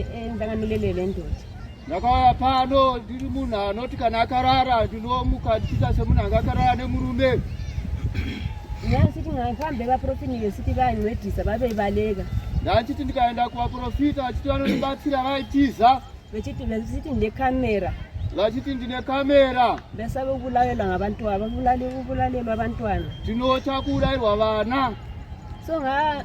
eh, ndanga milelele ndoda ndakauya pano ndiri munhu anoti kana akarara ndinomuka ndichiita semunhu anga akarara nemurume ndanditi ngaifambe vaprofini yesiti vainwedhisa vaveivaleka ndanditi ndikaenda kuvaprofita vachiti vanondibatsira vaitiza vechiti vechiti ndekamera vachiti ndine kamera vesave kuvulalela ngabantwana vavulalelwa abantwana tinotya kuvulalelwa vana so nga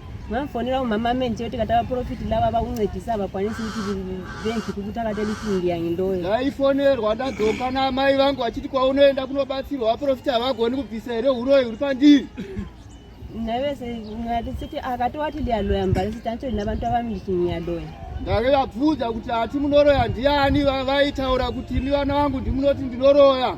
Vafonera umama menje kuti katava profit lava vakuncedisa vakwanisi kuti bank kuti takata meeting yangu ndoyo. Ndaifonerwa ndadzoka na mai vangu vachiti kwaunoenda kunobatsirwa va profit havagoni kubvisa here huroyi huri pandiri. Navese ngati siti akatowati liyaloya mbali sitancho ina vantu ava meeting yaloya. Ndave vabvunza kuti ati munoroya ndiani vaitaura kuti ni vana vangu ndimunoti ndinoroya.